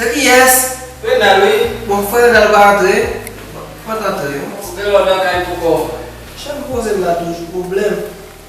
Se ki yès? Renal wi. Bon frè Renal pa antre? Bon, fòt antre. Ouvè lòt lakay pou kòw. Chan poze m la toujou pwoblèm.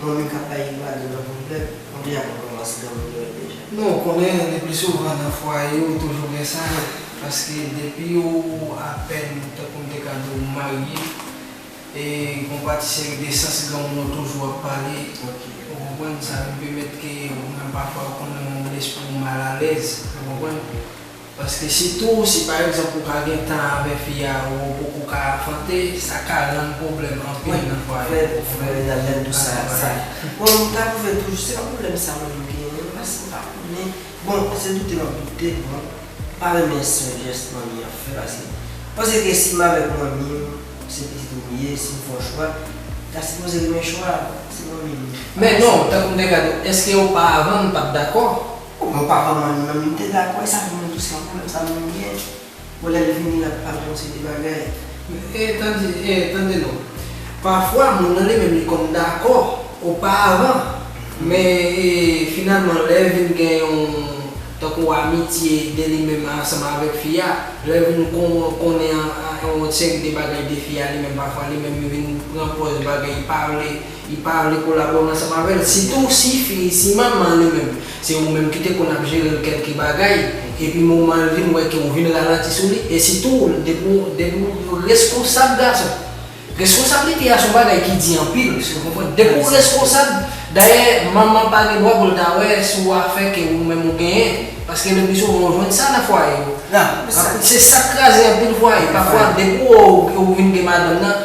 Manmi kap bay Ricardo nan pwoblèm. Manmi a konn kòmanse nan moud Noël deja. Non ou konnen le plus souvent nan fwaye ou toujou gen sa yo paske depi ou apèn tankou m te ka di w marye e gon pa ti seri de sans granmoun ou toujou ap pale ou konprann sa vin pèmèt ke ou menm pafwa ou konn nan yon lespri ou mal alèz ou konprann. Paske sitou si pa egzanp ou pa gen tan avè fi a ou ou poko ka afante, sa ka rann pwoblèm anpil nan fwaye ou konprann? Vrèman nan menm tou sa sa bon m ka pwouve l toujou se pa pwoblèm sa mwen menm genyen non paske m pa konnen bon se doute m ap doute l bon m pa renmen sèl jès manmi an fè paske m panse ke si m avèk manmi m se pitit ou m ye si m fè yon chwa li ta sipoze renmen chwa a se manmi m li Men non tankou m te ka di w èske yo pa avan m pa t dakò? Bon papa Manou nan m te dakò esa vin mwen tou se yon problèm sa menm li gen bon lèl vini lap pale yon seri de bagay. E tande e tande non pafwa moun nan li menm li konn dakò oparavan men e finalman lè vin gen yon tankou amitye de li menm ansanm avèk fi a lèl vin kon konnen yon seri de bagay de fi a li menm pafwa li menm li vin pran pòz bagay li pa vle Li pa vle kolabore ansanm avèl sitou si fi si manman li menm se ou menm ki te konn ap jerel kelke bagay epi momanl vin wè ke ou vin ralanti sou li e sitou depi ou depi ou reskonsab gason reskonsablite a son bagay ki di anpil eske ou konprann depi ou reskonsab dayè manman pa gen dwa poul ta wè sou afè ke ou menm ou genyen paske le pi souvan ou jwenn sa nan fwaye yo se sak kraze anpil fwaye pafwa depi ou ou vin gen madanm nan.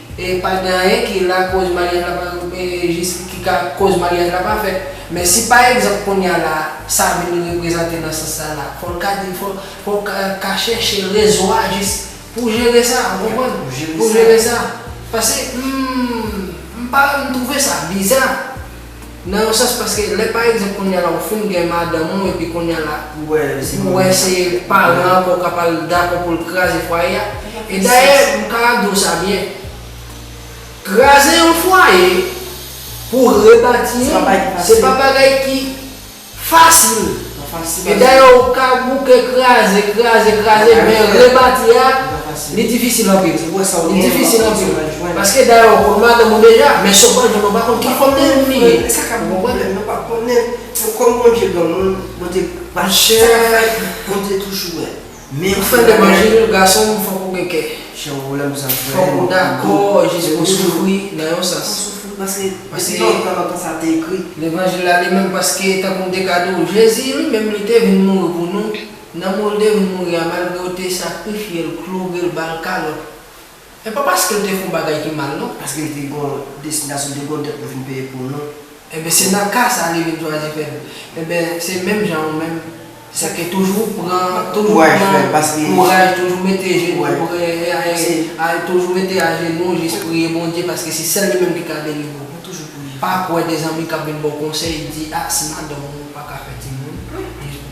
E pa gen anyen ki lakoz maryaj la pa jis ki ka koz maryaj la pa fèt. Men si pa egzanp kounya la sa vin reprezante nan sans sa la, fò l ka di fò fò l ka chèche rezon a jis pou jere sa ou konprann? Pou jere sa. Pase m m pa m twouve sa biza. Nan yon sans paske lè pa egzanp kounye a la ou fin gen madanm ou epi kounye a la ou wè se paran an ke w ka pral dakò pou l kraze fwaye a e dayè m ka di w sa byen kraze yon fwaye pou rebati l se pa bagay ki Fasil! E dayè ou ka bouke, kraze, kraze, kraze, men rebati a, li difisil anpil. Li difisil anpil. Paske dayè ou konn madanm ou deja, men si ou pral jwenn ou pa konn ki fòm de moun li ye. E sa k ap gen pwoblèm yo pa konnen. Kòm Bondye granmoun, Bondye pa chè, Bondye toujou wè. Ou fèl de manje wi gasonm fòk ou gen kè. Fòk ou dakò jis pou soufri nan yon sans. Levanjil la li menm paske tankou m te ka di w Jezi li menm li te vin mouri pou nou, nan mou l te vin mouri a malgre yo te sakrifye l, kloure l, ba l kalòt. E pa paske l te fon bagay ki mal non. Paske l te gon destinasyon, l te gon dèt pou vin peye pou nou. Enben se nan ka sa li vin chwazi fè l. Enben se menm jan ou menm. Sa ke toujou pran, toujou pran kouraj, toujou mete jenou pre, toujou mete ajenou jis priye Bondye paske se sèl li menm ki ka delivre ou. Pa kwè de zanmi k ap vin ba w konsèy di a si madanm ou pa ka fè timoun.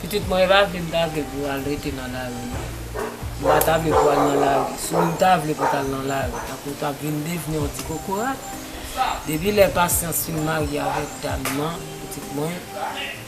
Pitit mwen, e pa vle m ta vle pou w al rete nan lari non. M pa ta vle pou w al nan lari. Si w ta vle pou w t al nan lari, tankou w t ap vin devni yon ti kokorat. Depi lè Pasyans fin marye avèk dam nan, pitit mwen.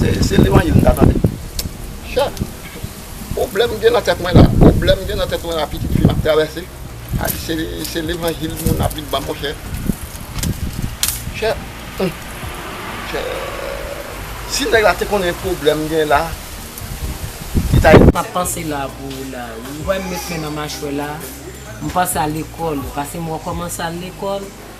Se levanjil m ta tande. Chè, pwoblèm gen nan tèt mwen la, pwoblèm gen nan tèt mwen la pitit fi m ap travèse. A di se levanjil moun ap vin ban m monchè. Chè, chè, si nèg la te konnen pwoblèm gen la, li ta. M ap panse la pou ou la wi. Ou wè m met men nan machwè la, m panse a lekòl. Pase m rekòmanse al lekòl,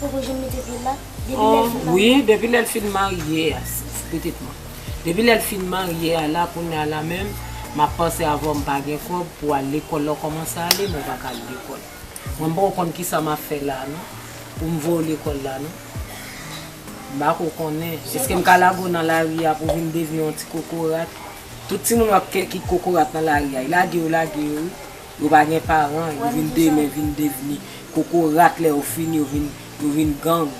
Poko janm mete pye la. Depi lèl fin marye. Ohh wi depi lèl fin marye a pitit mwen. Depi lèl fin marye a la kounya la menm map panse avèw mpa gen kòb pou al lekòl lèw kòmanse ale mwen paka al lekòl. Mwen mpoko konn kisa map fè la non poum voyew lekòl la non. Mpako konnen eskem ka lage w nan lari a pou vin devni yon ti kokorat. Tout timoun wap kè ki kokorat nan lari a y lage yo lage yo wi. Yo pa gen paran, yo vin demen vin devni kokorat lè yo fini yo vin yo vin gang.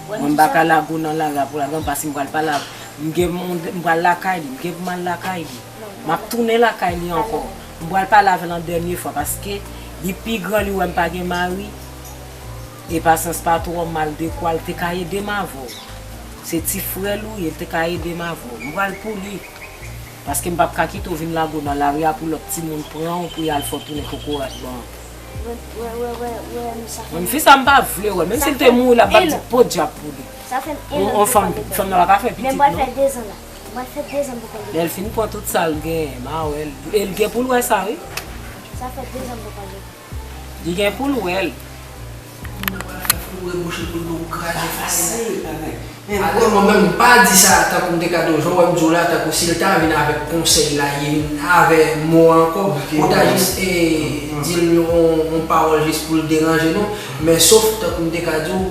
Mwen m paka lago nan lari a pou lago m pase m pral pa lago m gen moun m pral lakay li m gen pou m al lakay li m ap tounen lakay li ankò m pral pale avè l yon dènye fwa paske li pi gran li wè m pa gen mari e pasyans pa twò mal dekwa l te ka ede m avè w se ti frè l ou ye l te ka ede m avè w m pral pou li. Paske m pap ka kite w vin lage w nan lari a pou lòt timoun pran w pou y al fè w tounen kokorat ban an. Menm fi sa m pa vle wè l. Menm si l te mouri la m pap di podyab pou li. Yon fanm fanm nan pa ka fè pitit non. Lè l fin pran tout sa l genyen ma wè l. E l gen pou l wè sa wi. Li gen poul wèl. Moun nan pral fè foure bouche poul pou kraze fayay la bagay. Men apre mwen menm m pa di sa tankou m te ka di w jan w wè m di w la tankou si l ta vin avèk konsèy la ye m avè mo a ankò ou ta jis di l yon pawòl jis pou l deranje nou men sof tankou m te ka di w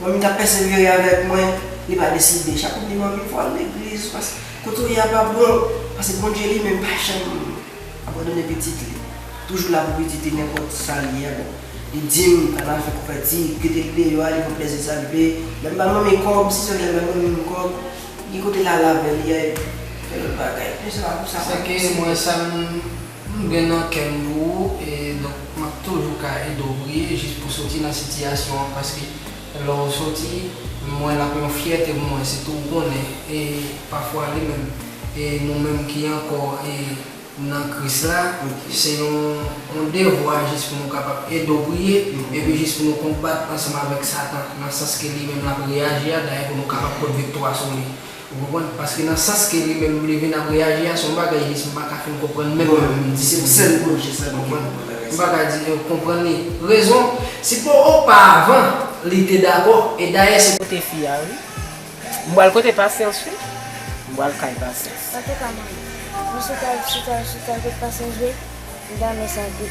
Manmi ta pèsevere avèk mwen, li pa deside chak kote manmi voye l legliz paske kote w ye a pa bon, paske Bondye li menm pa janm abandone pitit li, toujou la pou pitit li nenpòt sa l ye a bon li di m al al fè kouvèti, kite l deyò a li pran plèzi sa l vle, lè m bay manmi kòb si se lè m bay manmi m kòb gen kote l al avè li a epi fè lòt bagay, se pa pou sa m pa pèsevere. M gen nan kè m pou ou e donk m ap toujou ka ede w priye jis pou soti nan sitiyasyon an paske lè w soti m wè l ap yon fyète pou mwen sitou w konnen e pafwa li menm e nou menm ki ankò e nan Kris la se yon devwa jis pou nou kapab ede w priye epi jis pou nou konbat ansanm avèk satan nan sans ke li menm l ap reyaji a dayè pou nou kapab pot viktwa sou li Ou konprann? Paske nan sans ke li menm li vin ap reyaji a, se yon bagay li di m pa ka fin konprann menm mwen menm di pou li. Ou konprann? M pa ka di yo konprann li. Rezon, si pou oparavan, li te dakò. E dayè se. Kote fi a wi. M pral kote Pasyans wi. M pral kay Pasyans. Sa te ka mwen. Mwen chita, chita, chita kote Pasyans vre, m ta renmen sa vre.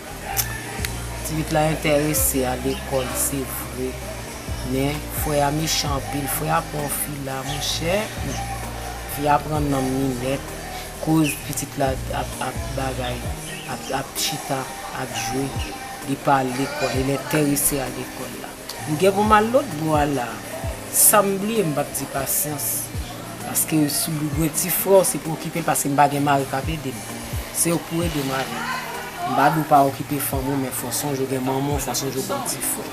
Pitit la entèrese a lekòl se vre men frè a mechan anpil, frè a pran yon fi la monchè ooh fi a pran nanm ni nèt koz pitit la ap bagay ap chita ap jwe li pa al lekòl, elentèrese a lekòl la. M gen pou m al lòt bò a la a. Sa m bliye m pap di pasyans. Paske sou do gwen ti frè w se pou okipe l paske m pa gen mari k ap ede m. Se yo k pou ede m ale. M pa di w pa okipe fanmi w men fò w sonje w gen manman w, fò w sonje w gen yon ti frè.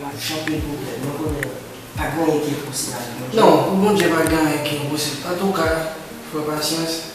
M ap chante pou tèt mwen konnen pa gen anyen ki enposib avèk Bondye. Non, pou Bondye pa gen anyen ki enposib. Antouka, frè Pasyans.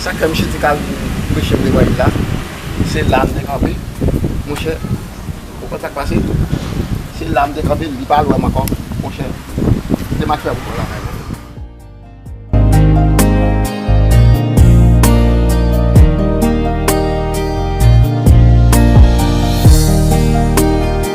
Sak fè misye te ka al pou preche levanjil la, se la m te kanpe, monchè, ou konn sak pase, se la m te kanpe, li pa al wè m ankò, monchè, kite m al fè wout mwen lakay mwen.